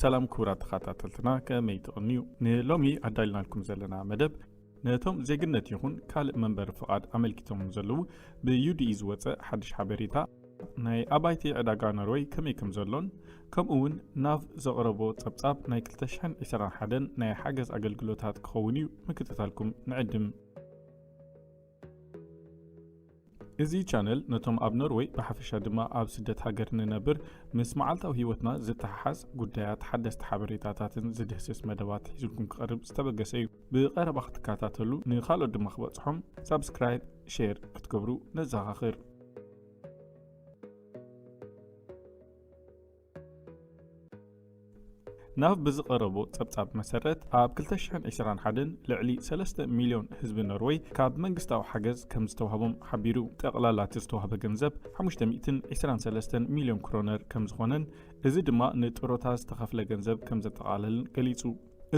ሰላም ክቡራት ተኻታተልትና ከመይ ትቕንዩ ንሎሚ ኣዳልናልኩም ዘለና መደብ ነቶም ዜግነት ይኹን ካልእ መንበሪ ፍቓድ ኣመልኪቶምም ዘለዉ ብዩዲኢ ዝወፀ ሓድሽ ሓበሬታ ናይ ኣባይቲ ዕዳጋ ኖርወይ ከመይ ከም ዘሎን ከምኡ እውን ናብ ዘቕረቦ ጸብጻብ ናይ 221 ናይ ሓገዝ ኣገልግሎታት ክኸውን እዩ ምክትታልኩም ንዕድም እዚ ቻነል ነቶም ኣብ ኖርወይ ብሓፈሻ ድማ ኣብ ስደት ሃገር ንነብር ምስ መዓልታዊ ህይወትና ዝተሓሓዝ ጉዳያት ሓደስቲ ሓበሬታታትን ዝድህስስ መደባት ሒዙልኩም ክቐርብ ዝተበገሰ እዩ። ብቐረባ ክትከታተሉ ንካልኦት ድማ ክበጽሖም ሳብስክራይብ፣ ሼር ክትገብሩ ነዘኻኽር። ናብ ብዝቐረቦ ጸብጻብ መሰረት ኣብ 2021 ልዕሊ ሰለስተ ሚልዮን ህዝቢ ኖርወይ ካብ መንግስታዊ ሓገዝ ከም ዝተዋህቦም ሓቢሩ። ጠቕላላ እቲ ዝተዋህበ ገንዘብ 523 ሚልዮን ክሮነር ከም ዝኾነን እዚ ድማ ንጥሮታ ዝተኸፍለ ገንዘብ ከም ዘጠቓለልን ገሊጹ።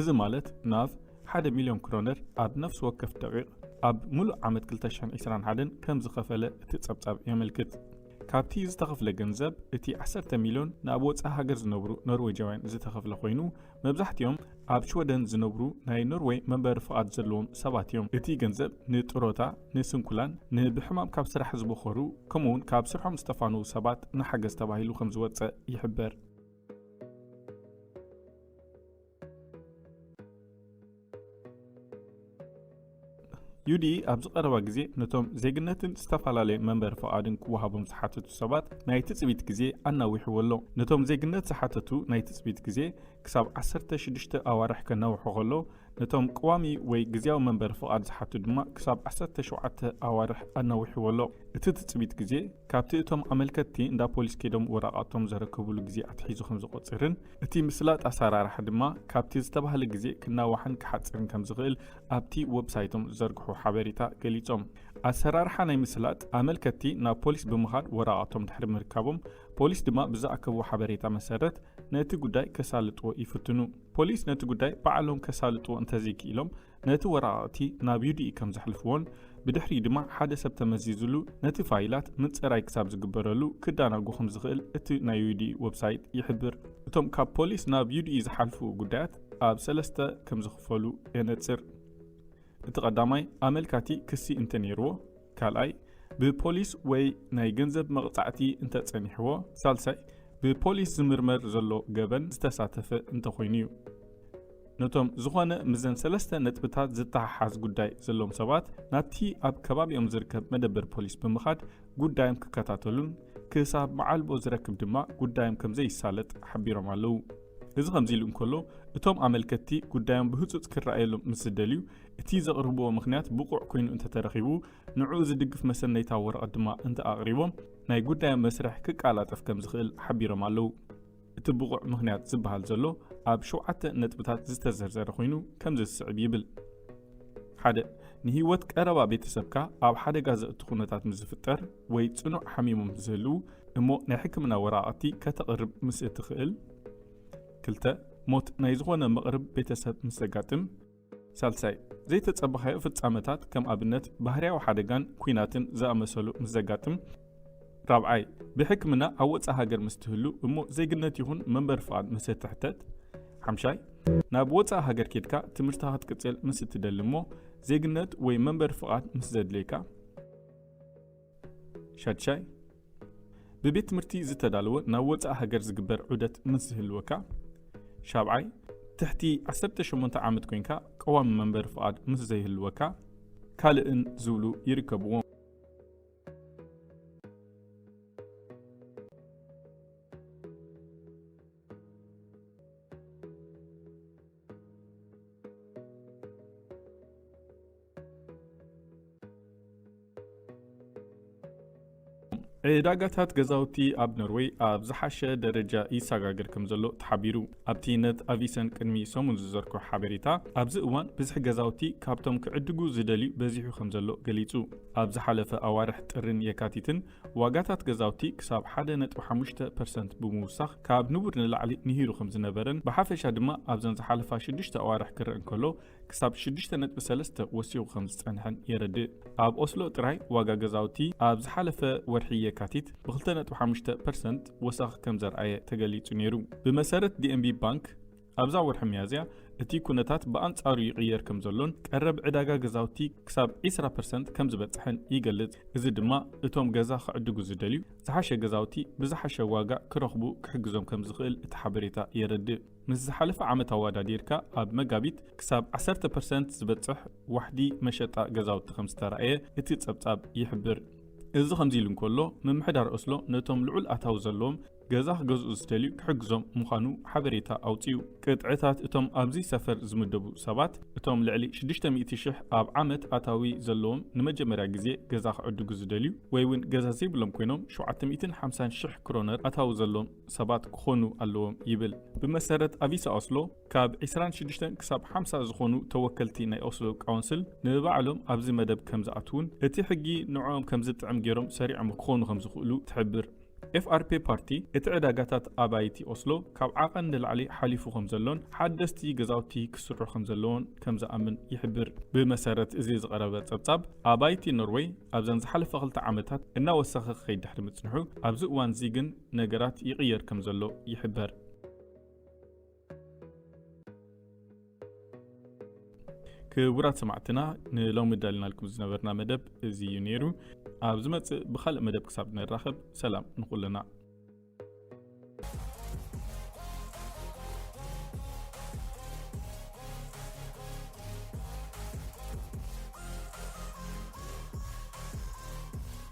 እዚ ማለት ናብ ሓደ ሚልዮን ክሮነር ኣብ ነፍሲ ወከፍ ደቒቕ ኣብ ምሉእ ዓመት 2021 ከም ዝኸፈለ እቲ ጸብጻብ የመልክት። ካብቲ ዝተኸፍለ ገንዘብ እቲ ዓሰርተ ሚልዮን ንኣብ ወጻኢ ሃገር ዝነብሩ ኖርወጃውያን ዝተኸፍለ ኮይኑ መብዛሕቲኦም ኣብ ሽወደን ዝነብሩ ናይ ኖርወይ መንበሪ ፍቓድ ዘለዎም ሰባት እዮም። እቲ ገንዘብ ንጥሮታ፣ ንስንኩላን፣ ንብሕማም ካብ ስራሕ ዝበኾሩ ከምኡውን ካብ ስርሖም ዝተፋነዉ ሰባት ንሓገዝ ተባሂሉ ከምዝወጸ ይሕበር። ዩዲ ኣብዚ ቀረባ ግዜ ነቶም ዜግነትን ዝተፈላለየ መንበሪ ፍቓድን ክወሃቦም ዝሓተቱ ሰባት ናይ ትጽቢት ግዜ ኣናዊሕዎ ኣሎ ነቶም ዜግነት ዝሓተቱ ናይ ትጽቢት ግዜ ክሳብ 16 ኣዋርሕ ከናውሖ ከሎ ነቶም ቀዋሚ ወይ ግዜያዊ መንበሪ ፍቓድ ዝሓቱ ድማ ክሳብ 17 ኣዋርሕ ኣናዊሕዎ ኣሎ እቲ ትጽቢት ግዜ ካብቲ እቶም ኣመልከትቲ እንዳ ፖሊስ ከይዶም ወረቓቶም ዘረከብሉ ግዜ ኣትሒዙ ከም ዝቖጽርን እቲ ምስላጥ ኣሰራርሓ ድማ ካብቲ ዝተባህለ ግዜ ክናዋሕን ክሓጽርን ከም ዝኽእል ኣብቲ ወብሳይቶም ዝዘርግሑ ሓበሬታ ገሊጾም። ኣሰራርሓ ናይ ምስላጥ፣ ኣመልከትቲ ናብ ፖሊስ ብምኻድ ወረቓቕቶም ድሕሪ ምርካቦም፣ ፖሊስ ድማ ብዝኣከብዎ ሓበሬታ መሰረት ነቲ ጉዳይ ከሳልጥዎ ይፍትኑ። ፖሊስ ነቲ ጉዳይ ባዕሎም ከሳልጥዎ እንተዘይክኢሎም፣ ነቲ ወረቓቕቲ ናብ ዩዲኢ ከም ዘሕልፍዎን ብድሕሪኡ ድማ ሓደ ሰብ ተመዚዙሉ ነቲ ፋይላት ምጽራይ ክሳብ ዝግበረሉ ክዳናጎ ከም ዝኽእል እቲ ናይ ዩዲኢ ወብሳይት ይሕብር። እቶም ካብ ፖሊስ ናብ ዩዲኢ ዝሓልፉ ጉዳያት ኣብ ሰለስተ ከም ዝኽፈሉ የነጽር። እቲ ቀዳማይ ኣመልካቲ ክሲ እንተ ነይርዎ፣ ካልኣይ ብፖሊስ ወይ ናይ ገንዘብ መቕጻዕቲ እንተ ጸኒሕዎ፣ ሳልሳይ ብፖሊስ ዝምርመር ዘሎ ገበን ዝተሳተፈ እንተ ኾይኑ እዩ። ነቶም ዝኾነ ምስዘን ሰለስተ ነጥብታት ዝተሓሓዝ ጉዳይ ዘለዎም ሰባት ናብቲ ኣብ ከባቢኦም ዝርከብ መደበር ፖሊስ ብምኻድ ጉዳዮም ክከታተሉን ክሳብ መዓልቦ ዝረክብ ድማ ጉዳዮም ከምዘይሳለጥ ሓቢሮም ኣለው። እዚ ከምዚ ኢሉ እንከሎ እቶም ኣመልከትቲ ጉዳዮም ብህጹጽ ክረኣየሎም ምስ ዝደልዩ እቲ ዘቕርብዎ ምኽንያት ብቑዕ ኮይኑ እንተተረኺቡ ንዕኡ ዝድግፍ መሰነይታ ወረቐት ድማ እንተኣቕሪቦም ናይ ጉዳዮም መስርሕ ክቃላጠፍ ከምዝኽእል ሓቢሮም ኣለው። እቲ ብቑዕ ምኽንያት ዝበሃል ዘሎ ኣብ ሸውዓተ ነጥብታት ዝተዘርዘረ ኮይኑ ከምዚ ዝስዕብ ይብል። ሓደ ንህይወት ቀረባ ቤተሰብካ ኣብ ሓደጋ ዘእቱ ኩነታት ምስ ዝፍጠር ወይ ጽኑዕ ሓሚሞም ምስ ዝህልዉ እሞ ናይ ሕክምና ወረቓቕቲ ከተቕርብ ምስ እትኽእል። ክልተ ሞት ናይ ዝኾነ መቕርብ ቤተሰብ ምስ ዘጋጥም። ሳልሳይ፣ ዘይተጸበኻዮ ፍጻመታት ከም ኣብነት ባህርያዊ ሓደጋን ኲናትን ዝኣመሰሉ ምስ ዘጋጥም። ራብዓይ፣ ብሕክምና ኣብ ወጻኢ ሃገር ምስ ትህሉ እሞ ዜግነት ይኹን መንበሪ ፍቓድ ምስ እትሕተት። ሓምሻይ፣ ናብ ወጻኢ ሃገር ኬድካ ትምህርትኻ ክትቅጽል ምስ እትደሊ እሞ ዜግነት ወይ መንበሪ ፍቓድ ምስ ዘድልየካ። ሻድሻይ፣ ብቤት ትምህርቲ ዝተዳለወ ናብ ወጻኢ ሃገር ዝግበር ዑደት ምስ ዝህልወካ። ሻብዓይ፣ ትሕቲ ዓሰርተ ሸሞንተ ዓመት ኮይንካ ቀዋሚ መንበሪ ፍቓድ ምስ ዘይህልወካ። ካልእን ዝብሉ ይርከብዎም። ዕዳጋታት ገዛውቲ ኣብ ኖርወይ ኣብ ዝሓሸ ደረጃ ይሰጋገር ከም ዘሎ ተሓቢሩ ኣብቲ ነት ኣቪሰን ቅድሚ ሰሙን ዝዘርኮ ሓበሬታ ኣብዚ እዋን ብዝሒ ገዛውቲ ካብቶም ክዕድጉ ዝደልዩ በዚሑ ከም ዘሎ ገሊጹ ኣብ ዝሓለፈ ኣዋርሕ ጥርን የካቲትን ዋጋታት ገዛውቲ ክሳብ 1.5 ፐርሰንት ብምውሳኽ ካብ ንቡር ንላዕሊ ንሂሩ ከም ዝነበረን ብሓፈሻ ድማ ኣብዘን ዝሓለፋ ሽዱሽተ ኣዋርሕ ክረአ እንከሎ ክሳብ ሽዱሽተ ነጥቢ ሰለስተ ወሲኹ ከም ዝጸንሐን የረድእ። ኣብ ኦስሎ ጥራይ ዋጋ ገዛውቲ ኣብ ዝሓለፈ ወርሒ የካቲት ብክልተ ነጥቢ ሓሙሽተ ፐርሰንት ወሰኽ ከም ዘርኣየ ተገሊጹ ነይሩ። ብመሰረት ዲኤንቢ ባንክ ኣብዛ ወርሒ ሚያዝያ እቲ ኩነታት ብኣንጻሩ ይቕየር ከም ዘሎን ቀረብ ዕዳጋ ገዛውቲ ክሳብ ዕስራ ፐርሰንት ከም ዝበጽሐን ይገልጽ። እዚ ድማ እቶም ገዛ ክዕድጉ ዝደልዩ ዝሓሸ ገዛውቲ ብዝሓሸ ዋጋ ክረኽቡ ክሕግዞም ከም ዝኽእል እቲ ሓበሬታ የረድእ። ምስ ዝሓለፈ ዓመት ኣወዳዲርካ ኣብ መጋቢት ክሳብ ዓሰርተ ፐርሰንት ዝበጽሕ ዋሕዲ መሸጣ ገዛውቲ ከም ዝተራእየ እቲ ጸብጻብ ይሕብር። እዚ ከምዚ ኢሉ እንከሎ፣ ምምሕዳር ኦስሎ ነቶም ልዑል ኣታዊ ዘለዎም ገዛ ክገዝኡ ዝደልዩ ክሕግዞም ምዃኑ ሓበሬታ ኣውጺኡ። ቅጥዕታት እቶም ኣብዚ ሰፈር ዝምደቡ ሰባት፣ እቶም ልዕሊ ሽዱሽተ ሚእቲ ሽሕ ኣብ ዓመት ኣታዊ ዘለዎም ንመጀመርያ ግዜ ገዛ ክዕድጉ ዝደልዩ ወይ'ውን ገዛ ዘይብሎም ኮይኖም ሸውዓተ ሚእትን ሓምሳን ሽሕ ክሮነር ኣታዊ ዘለዎም፣ ሰባት ክኾኑ ኣለዎም ይብል። ብመሰረት ኣቪሳ ኦስሎ ካብ ዕስራን ሽዱሽተን ክሳብ ሓምሳ ዝኾኑ ተወከልቲ ናይ ኦስሎ ቃውንስል ንብባዕሎም ኣብዚ መደብ ከምዝኣትዉን እቲ ሕጊ ንዕኦም ከምዝጥዕም ገይሮም ሰሪዖም ክኾኑ ከምዝኽእሉ ትሕብር። ኤፍኣርፔ ፓርቲ እቲ ዕዳጋታት ኣባይቲ ኦስሎ ካብ ዓቐን ንላዕሊ ሓሊፉ ከምዘሎን ሓደስቲ ገዛውቲ ክስርሑ ከምዘለዎን ከምዝኣምን ይሕብር። ብመሰረት እዚ ዝቐረበ ጸብጻብ ኣባይቲ ኖርወይ ኣብዘን ዝሓለፋ ክልተ ዓመታት እናወሰኸ ክኸይድ ድሕሪ ምጽንሑ ኣብዚ እዋንዚ ግን ነገራት ይቕየር ከም ዘሎ ይሕበር። ክቡራት ሰማዕትና ንሎሚ ዳልናልኩም ዝነበርና መደብ እዚ እዩ ነይሩ። ኣብ ዝመጽእ ብኻልእ መደብ ክሳብ ንራኸብ ሰላም ንኹልና።